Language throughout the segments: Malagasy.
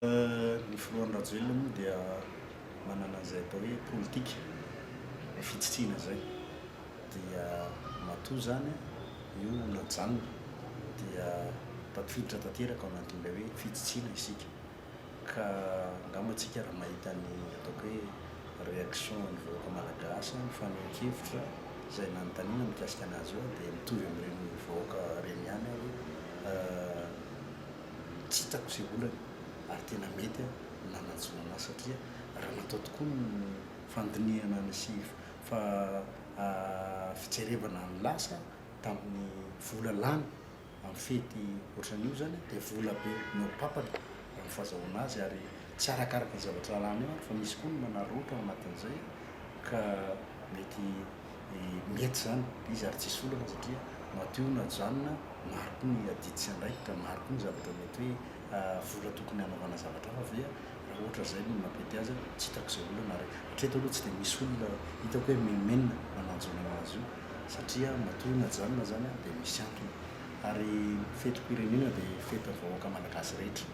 Ny filohan'ny Rajoelina moa dia manana izay atao hoe politika ny fitsitsiana izay dia matoa izany io najanona dia tafiditra tanteraka ao anatin'ilay hoe fitsitsiana isika ka angamba tsika raha mahita ny ataoko hoe réaction an'ny vahoaka malagasy ny fanehoan-kevitra izay nanontaniana mikasika an'azy io dia mitovy amin'ireny vahoaka ireny ihany aho hoe Tsy hitako izay olana ary tena mety ny nanajona ahy satria raha natao tokoa ny fandinihana sy fijerevana ny lasa tamin'ny vola lany amin'ny fety ohatran'io izany dia vola be no papany raha ny fazahoana azy ary tsy arakaraka ny zavatra lany eo fa misy koa ny manararaotra ao anatin'izay ka mety mety zany izy ary tsisy olana satria matio na janona maro koa ny adidy sy andraikitra maro koa ny zavatra mety hoe vola tokony hanaovana zavatra hafa ve raha ohatra zay no nampety azy aho tsy hitako izay olana ary hatreto aloha tsy dia misy olona hitako hoe mimimena mananjona azy io satria matio na janona zany an dia misy antony ary fetim-pirenena dia fetin'ny vahoaka malagasy rehetra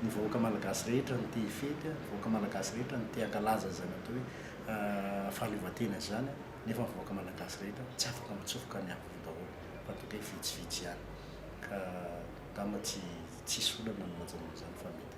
ny vahoaka malagasy rehetra no te hifety an ny vahoaka malagasy rehetra no te hankalaza izany atao hoe fahaleovantena izany nefa ny vahoaka malagasy rehetra tsy afaka mitsofoka ny afo daholo fa toa kay vitsivitsy ihany ka angamba tsy tsisy olana ny manjanona izany fa mety